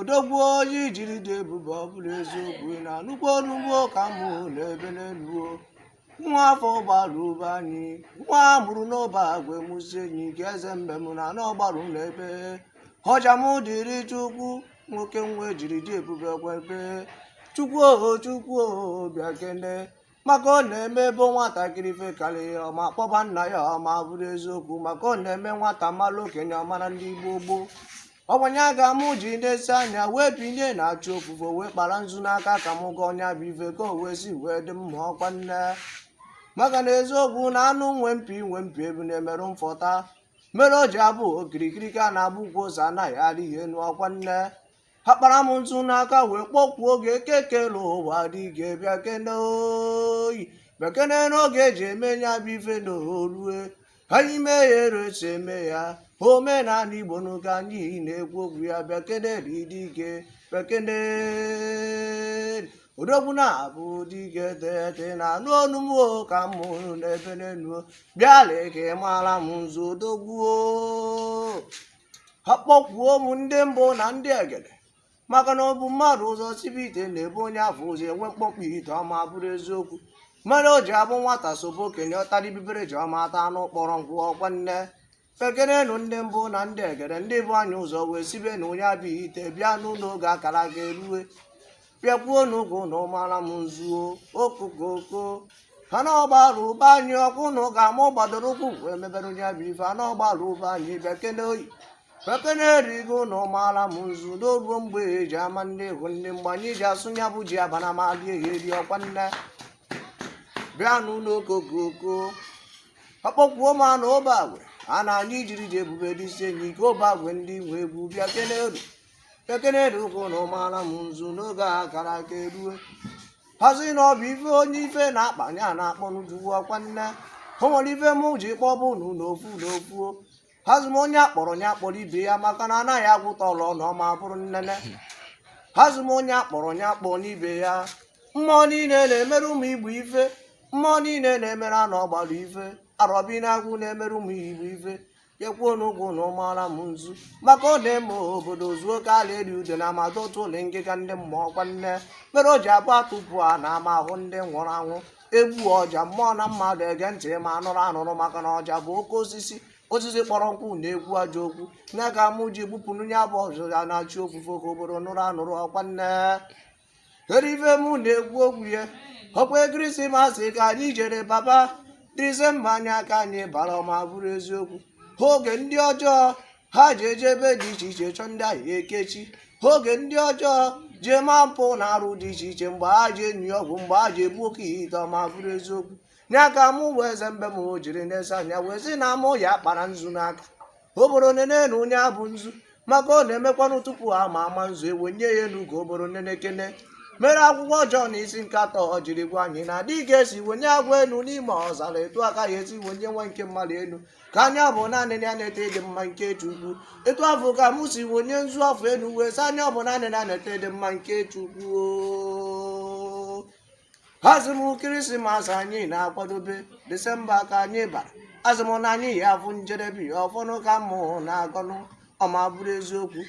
odogwu onye ejiri dị ebube ọ bụrụ eziokwu ị na-anụkwa onu m o ka mụ na-ebe n'elu o nwa afọ ọgbaru be anyị nwa a mụrụ n'obeagwe mụ isi enyi ike eze mbem na ana ọgbaru na-ebe ọja m dịrị chukwu nwoke nwa ejiri dị ebube kwebe chukwu oho chukwu oho bịakene maka ọ na-eme ebe nwatakịrị ife karị ya ọma kpọba nna ya ọma bụrụ eziokwu maka ọ na-eme nwata mara okenye ọ mara ndị igbo gboo ọkwa nya ka m ji na-esi anya wee binie na chi ofufo wee kpara nzu n'aka ka m gọọ nya bụ ife ka o wee si wee dị mma ọkwa nne maka na eziokwu na anụ nwe mpi nwe mpi ebu na-emerụ mfọta mere o ji abụ okirikiri ka a na-agba ukwu ose anaghị arị ya enu ọkwa nne akpara m nzu n'aka wee kpọkwuo gị eke kelụ ụwa dike bịakene oyi bịakene n'oge eji eme ya bụ ife na o rue ka anyị mee ya etu esi eme ya omenala igbo nụ ka anyị na-ekwu okwu ya bịakene dike bịakene odogwu na-abụ dike tete na-anụ onu m o ka mụ na-ebe n'enu bịa lee ka ị mara m nzu odogwu o akpọkwuo m ndị mbụ na ndị egede maka na o bu mmadụ ụzọ sibe ite na-ebu onye afụ ụzọ enwe mkpọkpọ ite ọma bụrụ eziokwu mere o ji abụ nwata sobe okenye ọ tara ibibere ji ọma ata anụ kpọrọ nkụ ọkwa nne bịakenenụ ndị mbụ na ndị egede ndị bu anyị ụzọ wee sibe nụ nya bụ ite bịanụ na oge akara aka erue bịakwuonụ ka unu mara m nzu o okokoko ana ọgbaru be anyị ọkwa unu ka m gbadoro ụkwụ wee mebere nya bụ ife ana ọgbaru be anyị bịakene oyi bịakeneri ka unu mara m nzu na o ruo mgbe eji ama ndị egwu ndị be anyị ji asụ ya bụ ji abana ma dị ehi eri ọkwa nne bịanụ o okokoko akpọkwuo m ana obeagwe ana anyị jiri dị ebube ndị isi enyi ike obeagwe ndị nwe egwu bịakeneri ekeneri ka unu mara m nzu na oge a kara aka erue asị na ọ bụ ife onye ife na-akpa ya na-akpọ n'ujuwu ọkwa nne o nwere ife mụ ji kpọba unu n'ofu n'ofu asị m onye akpọrọ ya kpọrọ ibe ya maka na anaghị agụta ọlụ ọnụ ọma bụrụ nnene asị m onye akpọrọ ya kpọnụ ibe ya mmụọ niile na-emere ụmụ igbo ife mmụọ niile na-emere ana ọgbaru ife arọbịnagụ na-emere ụmụ igbo ife bịakwuonụ ka unu mara m nzu maka ọ na-eme obodo zuo ka ala eri udene a ma dọtuo nụ ngịga ndị mmụọ ọkwa nne mere o ji abụ atụpụ ana ama ahụ ndị nwụrụ anwụ egbuo ọja mmụọ na mmadụ ege ntị ma anụrụ anụrụ maka na ọja bụ oke osisi osisi kpọrọ nkụ na-ekwu ajọ okwu nya ka mụ ji gbupụrụ ya bụ ọja na chi ofufo ka obodo nụrụ anụrụ ọkwa nne kedu ife mụ na-ekwu okwu ya ọkwa kirisimasi ka anyị jere baba disemba nya ka anyị bara ọma bụrụ eziokwu oge ndị ọjọọ ha ji eje ebe dị iche iche chọọ ndị a ya-ekechi oge ndị ọjọọ ji eme mpụ na arụ dị iche iche mgbe ha ji enyi ọgwụ mgbe ha ji ebu oke ite ọma bụrụ eziokwu ya ka mụ bụ eze mbem jiri nesie anya wee sị na mụ ya-akpara nzu n'aka obodo nene na ọ nya bụ nzu maka ọ na-emekwanụ tupu ha ma ama nzu e wenye ya enu ka obodo nene kene mere akwụkwọ jọn isi nke atọ ọ jiri gwa anyị na dị ka esi wenye agwọ enu n'ime ọzara etu a ka a ya-esi wenye nwa nke mmadụ enu ka onye ọbụna nee ya nata ịdị mma nke chukwu etu afụ ka mụ si wenye nzu afụ enu wee sị onye ọbụna nee ya nata ịdị mma nke chukwu asị mụ kirisimasi anyị na-akwadobe disemba ka anyị bara asị mụ na anyị ya afụ njedebe ya ọfọnụ ka mụ na-agọnụ ọma bụrụ eziokwu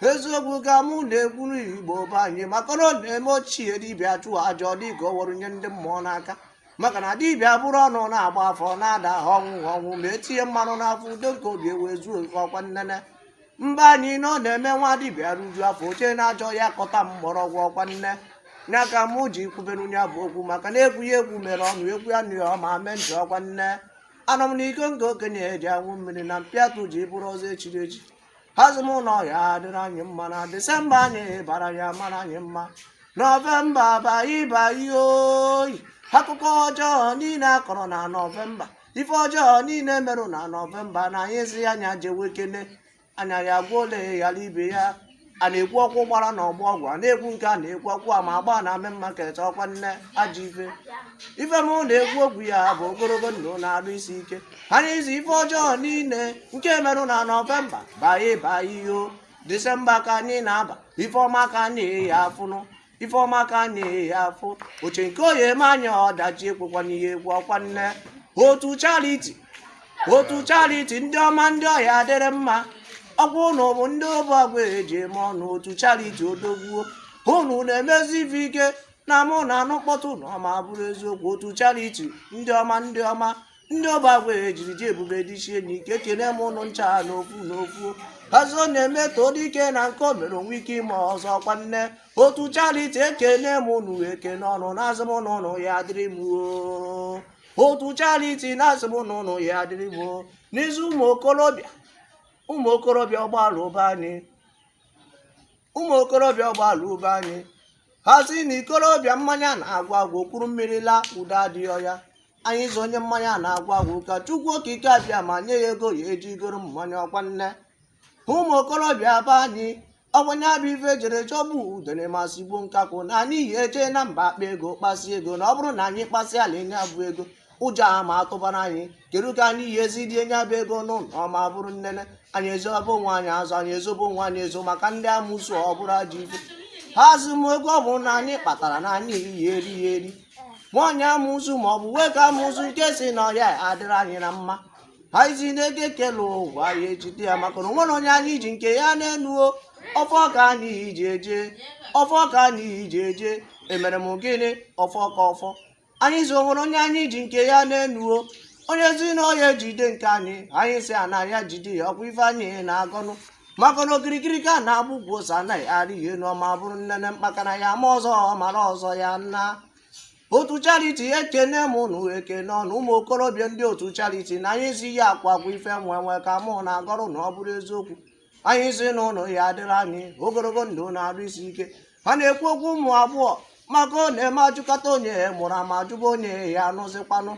eziokwu ka mụ na-ekwuru igbo be anyị maka na ọ na-eme ochie dibịa chụọ aja ọ dịka o were nye ndị mmụọ n'aka maka na dibịa buru ọnụ na-agba afa ọ na-ada ọnwụ ọnwụ ma etinye mmanụ n'afọ udo nke obi ewee zuo ọkwa nnene mba anyị na ọ na-eme nwa dibịa rijuo afọ o jee n'ajọ ọhịa kọta mgbọrọgwụ ọkwa nne ya ka mụ ji kwubere nya bụ okwu maka na ekwu ya ekwu mere ọnụ ekwuo ya anụ ya ọma mee ntị ọkwa nne aṅụọ m n'iko nke okenye ji aṅụ mmiri na mpịatụ ji bụrụ ọzọ echiri echi asị mụ na ọ ya-adịrị anyị mma na disemba anyị bara ya-amara anyị mma nọvemba bye bye o akụkọ ọjọọ niile a kọrọ na nọvemba ife ọjọọ niile merụ na nọvemba na anyị asị ya nya jewe kene a ya-agụ ole ghara ibe ya a na-ekwu ọkụ gbara na ọgbọ ọgwụ a na-ekwu nke a na-ekwu ọkụ a ma agba na main market ọkwa nne ajọ ife ife m na-ekwu okwu ya bụ ogologo ndụ na arụ isi ike anyị sị ife ọjọọ niile nke merụ na nọvemba bye bye o disemba ka anyị na-aba ife ọma ka anyị ya afụnụ ife ọma ka anyị ya-afụ o chee nke ọ ya-eme anyị ọdachi ekwekwa n'ihe egwu ọkwa nne otu charity otu charity ndị ọma ndị ọ ya-adịrị mma ọkwa ụnụ bụ ndị obeagwe ji eme ọnụ otu charity odogwu o ụnụ na-emezi ife ike na mụ na-anụ mkpọtụ ụnụ ọma bụrụ eziokwu otu charity ndị ọma ndị ọma ndị obeagwe jiri ji ebube dị ichie na ike ekene m ụnụ ncha n'ofu n'ofu asị na-eme e too dike na nke o mere o nwee ike ime ọzọ ọkwa nne otu charity ekene m ụnụ ekene o na asị m ụnụ ụnụ ya dịrị m oo. otu charity na asị m ụnụ ụnụ ya dịrị m oo. n'izu ụmụ okorobịa ụmụ okorobịa ọgbarụ be anyị ụmụ okorobịa ọgbalụ be anyị ha sị na ikorobịa mmanya na-agụ agụ kuru mmiri laa udo adịghị ya anyị sị onye mmanya na-agụ agụ ka chukwu okike abịama nye ya ego ọ ya-eji goro mmanya ọkwa nne ụmụ okorobịa be anyị ogbenye bụ ife jere jọgbu udene ma sigbuo nkakwụ na anyị yi eje na mba akpa ego kpasi ego na ọ bụrụ na anyị kpasịala nya bụ ego ụjọ ama atụbara anyị kedu ka anyị yi esi rie nya bụ ego nụ na ọ ma bụrụ nnene anyị ezobe onwe anyị ezo anyị ezobe onwe anyị ezo maka ndị amụsụ ọ bụrụ ajọ ife ha azụ m ego ọ bụrụ na anyị kpatara na anyị yi eri ya eri nwaanyị amụsụ ma ọ bụ nwoke amụsụ nke sị na ọ ya-adịrị anyị na mma anyị sị n'ego ekele ụwa anyị ejide ya maka na o nwerọ onye anyị ji nke ya na-enuo ọfọ ka anyị ji eje ọfọ ka anyị ji eje emere m gịnị ọ ka ọfọ anyị sị o nwerọ onye anyị ji nke ya na-enuo onye sị na ọ ya-ejide nke anyị anyị sị ana ya-ejide ya ọkwa ife anyị na-agọnụ maka na okirikiri ka a na-agba ukwu ose anaghị arị ya enu ọ ma bụrụ nnene mkpakana ya-ama ọzọ mara ọzọ ya ndị otu chariti ekene m ụnụ ekene ọnụ ụmụ okorobịa ndị otu chariti na anyị si ya akwa akwa ife enwe enwe ka mụ na-agọrọ na ọ bụrụ eziokwu anyị sị na ụnụ ya-adịrị anyị ogologo ndụ na arụ isi ike a na-ekwu okwu ụmụ abụọ maka ọ na-eme ajụkata onye ya mụrụ ama ajụba onye ya anụzikwanụ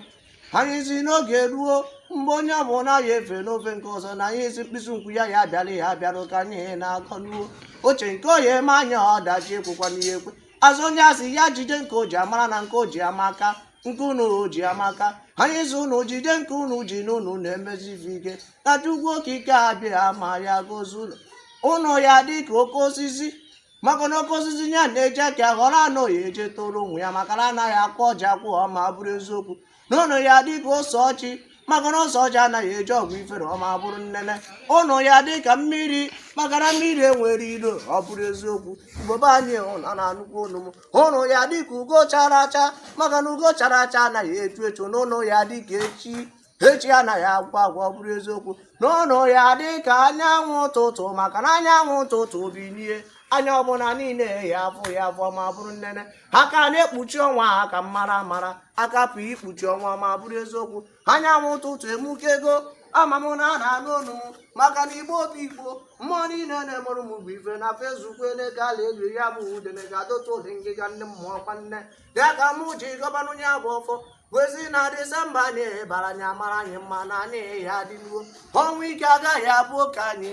anyị sị n'oge ruo mgbe onye ọ bụla ya-efe n'ofe nke ọzọ na anyị sị mkpịsị nkwụ ya ya abịara ya abịara ka anyị na-agọnụ o oche nke ọ yi eme anyị ọdachi ekwekwana ya ekwe a sị onye a sị ya jide nke o ji a mara na nke o ji amaka nke unu ji amaka anyị sị unu jide nke unu ji n'unu na-emesi ife ike na chukwu okike abịama ya-agọzi ụnụ ụnụ ya-adị ka oke osisi maka na oke osisi ya na-eji aka họrọ ana ọ ya-eje toro onwe ya maka na anaghị akụ ọjị akụ ọ ma bụrụ eziokwu n'ụnụ ya-adị ka ose ọjị maka na ose ọjị anaghị eje ọgwụ ifere ọ ma bụrụ nnene ụnụ ya-adị ka mmiri maka na mmiri enwerọ ilo ọ bụrụ eziokwu igbo be anyị ụnụ na-anụkwa onu m ụnụ ya-adị ka ugo chara acha maka na ugo chara acha anaghị echu echu n'ụnụ ya-adị ka echi echi anaghị agwụ agwụ ọ bụrụ eziokwu n'ụnụ ya-adị ka anyanwụ ụtụtụ maka na anyanwụ ụtụtụ bilie anya ọbụla niile ya-afụ ya afụ ma bụrụ nnene aka na-ekpuchi ọnwa aka mara mara aka pụ ikpuchi ọnwa ma bụrụ eziokwu anyanwụ ụtụtụ emukego ama m na a na-anụ onu m maka na igbo obi igbo mmụọ niile na-emere m bụ ife na fesbuk na-ego ala elu ya bụ udene ga-adọta ụdị ngịga ndị mmụọ kwa nne ya ka mụ ji gọbanụ nya bụ ọfọ wee sị na disemba anyị bara ya-amara anyị mma na anyị ya-adịnụ o ọnwụ ike agaghị abụ oke anyị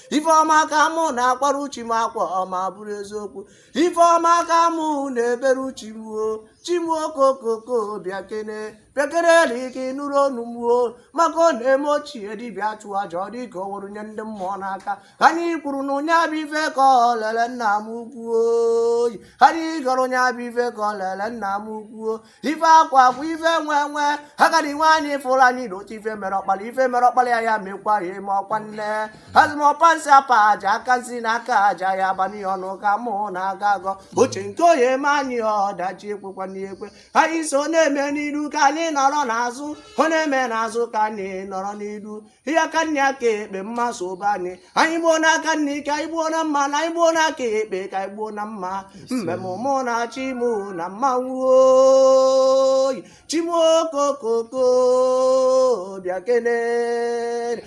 ife ọma ka mụ na-akwara chi m akwa ọma bụrụ eziokwu ife ọma ka mụ na-ebere chi m o chi m okokoko bịakene bịakene na ike nụrụ onu mụ o maka ọ na-eme ochie dibịa chụọ aja ọ dịka o were nye ndị mmụọ n'aka ka anyị kwuru na onye abụ ife ka ọ lele nna m ukwu o oyi ka anyị gọrọ onye abụ ife ka ọ lele nna m ukwu o ife akwa akwa ife nwe nwe agadi nwaanyị fụrụ anyị na otu ife mere ọkpara ife mere ọkpara ya ya mekwa ya eme ọkwa nne azụ m ọpa nsi apa aja aka nsi na aka aja ya abanye ọnụ ka mụ na-agọ agọ uche nke onye eme anyị ọdachi ekwekwana ekwe anyị sị ọ na-eme n'iru ka anyị nọrọ n'azụ ọ na-eme n'azụ ka anyị nọrọ n'iru ihe aka nni aka ekpe mma sụba anyị anyị gbuo n'aka nni ka anyị gbuo na mma na anyị gbuo n'aka ekpe ka anyị gbuo na mma mmemme mụ na chi mụ na mmanwụ oyi chi m okokoko bịakene